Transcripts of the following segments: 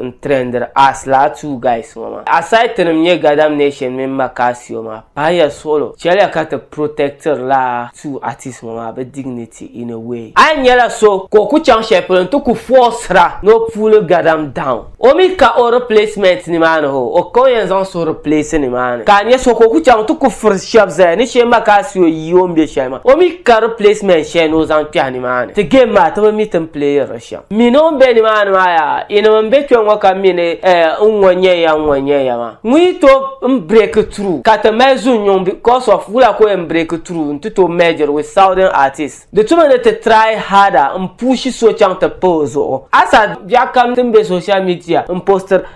n trendiri as laa two guys ŋɔ maa. Aside ti ni mi nyɛ Gadam Nation mini Macasio maa, pahiya suɣilo chɛliya ka ti protectiri laa two artists ŋɔ maa bɛ dignity in a way. A yi nyɛla so ka o ku chaŋ shɛli polo nti ku forcira ni o puuli Gadam down, o mi ka o replacement nimaani hoo, o ka o yɛn zaŋ so replace nimaani. Ka a nyɛ so ka o ku chaŋ nti ku firi shɛba zaya ni shee Macasio yi o ni be shɛli maa, o mi ka replacement shɛli ni o zaŋ kpɛhi nimaani. Ti game maa ti bi mi ti ni playiri li. shɛm. N mi ni o ni be nimaani maa yaa yinim n be kpe ŋɔ ka mi ni eh n ŋɔ nyɛ ya n ŋɔ nyɛ ya maa ŋun yi tooi n break through ka ti mali zunyuŋ because of wula ka o yɛn break through n ti tooi merger with southern artist di tumi ni ti try harder n push so chaŋ ti pa o zuɣu. Asa biɛɣu kam din be social media n poster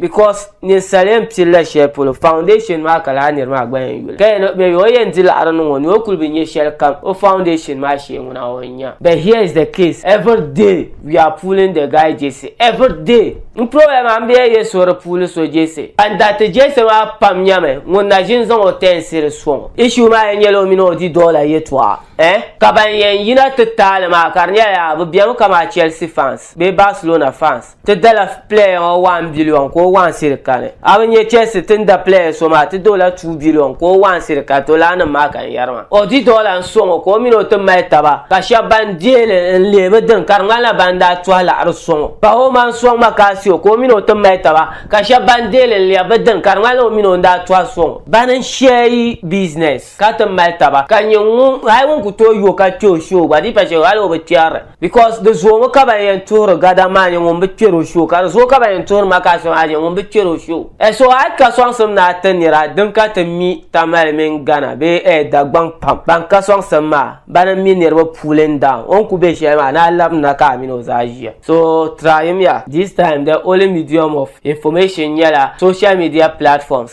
Because ninsal yɛn pilila shɛli polo, foundation maa ka laa niri maa gba yɛn yuli. Ka yɛn o mi o yɛn di laɣiri niŋ o ni o kuli bi nyɛ shɛli kam o foundation maa shee ŋuna o yɛn nya. But here is the case, everyday we are pulling the guy Jesse, everyday! N problem maa m bi yɛn yɛ so di puuni so Jesse. And that Jesse maa pam nyami ŋun na ʒini zaŋ o tɛɛnsi di so ŋɔ. Issue maa yɛn nyɛla o mini o di dɔɔla yɛtɔɣa eh? Ka ban yɛn yina ti taali maa ka di nyɛla yaa bi bemi kamaa Chelsea fans bee Barcelona fans. Ti dala player ŋɔ one billion ka o one siri kani. A bi nya Chelsea ti ni da player so maa ti da o la two billion ka o one siri kani to laanim maa ka n yɛri maa. O di dollar n sɔŋ o ka o mini o ti mali taba ka shɛba ban deei li n leei bi dini ka di ŋmanila ban daa tɔhi laɣiri sɔŋ o. Pahoma n sɔŋ ma ka a si o ka o mini o ti mali taba ka shɛba ban deei li n leei bi dini ka di ŋmanila o mini o n daa tɔhi sɔŋ o. Bani n share business ka ti mali taba ka nya ŋun hali ŋun ku tooi yo ka kpe o shee o gba di pa shɛli hali o bi kpɛri li. Because di zoomi ka ban yɛn tuhiri gada maa nyɛ ŋun bi kpɛri o show ka di zooi ka ban yɛn tuhiri ma kasi maa nyɛ ŋun bi kpɛri o show. Eh so a yi ka sɔŋsim ni a ti nira din ka ti mi Tamale mini Ghana bee eh Dagbaŋ pam ban ka sɔŋsim maa bani n mi niriba pooling down o ni ku be shɛli maa ni a labinda ka a mini o zaa ʒiya. So tryimya this time the only medium of information nyɛla social media platforms.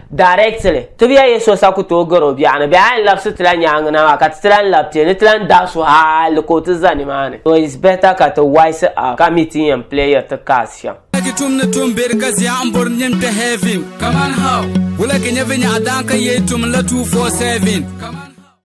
Directly, tibiya yi so sa ku tooi gari o biɛɣuni, bee a yɛn labisi ti la nyaangi na maa ka ti ti lan labi ti ni ti lan daa suhi a hali ka o ti za nimaani. So it's better ka ti wise up ka mi ti yɛn play ya ti kaas shɛm. Wulagi tum ni tum beri ka ziya n bori nyin kpe heaven. Kaman how? Wulagi nyɛ vinyɛɣu daan ka yee tum n la two four seven. Kaman how?